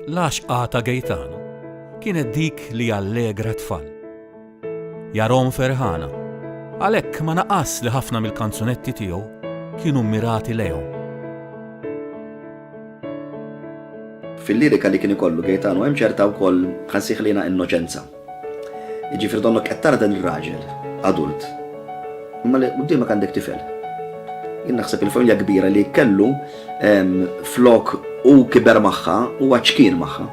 L-għaxqa ta' Gaetano kienet dik li allegra tfal. Jarom ferħana, għalhekk ma naqas li ħafna mill-kanzunetti tiegħu kienu mmirati lejhom. Fil-lirika li kien ikollu Gaetano hemm ċerta wkoll ħansieħlina innoċenza. Jiġifieri donnok qed tara dan ir-raġel adult, imma li quddiemek għandek tifel. Jien naħseb il-familja kbira li kellu flok hu kiber magħha huwa ċkien magħha.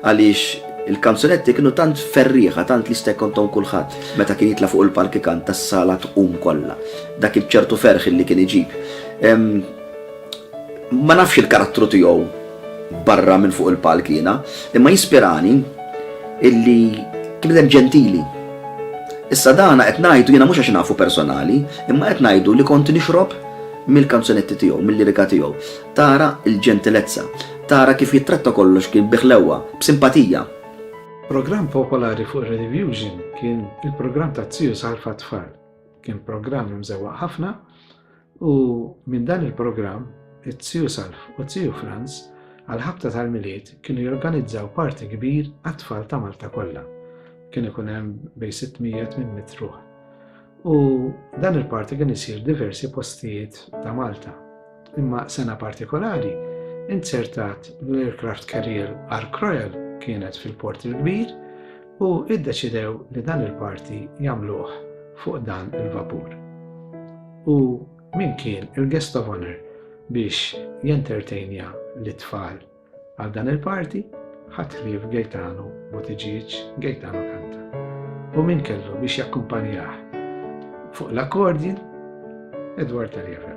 Għaliex il-kanzunetti kienu tant ferrieħa, tant li jista' jkontom kulħadd meta kien jitla' fuq il-palk ikanta s-sala tqum kollha. Dak iċ-ċertu ferħ li kien iġib. Ma nafx il-karattru tiegħu barra minn fuq il-palk jiena, imma jispirani illi bniedem ġentili. Issa dana qed ngħidu jiena mhux għax nafu personali, imma qed ngħidu li kont nixrob mill-kanzunetti tiegħu, mil-lirika tiegħu. Tara l-ġentilezza, tara kif jittratta kollox kien bi ħlewwa, b'simpatija. Programm popolari fuq ir-Redivjuxn kien il-programm ta' Zius Alfa t-Tfal. Kien programm imżewwaq ħafna, U minn dan il-programm, it-Zju Salv u t-Zju Franz għall-ħabta tal-Milied kienu jorganizzaw party kbir għat-tfal ta' Malta kollha. Kien ikun hemm bejn 600-800 ruħ. U dan il-party kien isir diversi postijiet ta' Malta. Imma sena partikolari, inzertat l-aircraft carrier Ark Royal kienet fil-Port il-Kbir u iddeċidew li dan il-parti jagħmluh fuq dan il-vapur. U min kien il-guest of honour biex jentertejnja lit-tfal għal dan il-party ħadd ħlief Gaetano Buttigieg, Gaetano kanta. U min kellu biex jakkumpanjah fuq l-akkordin Edward Taliaferro.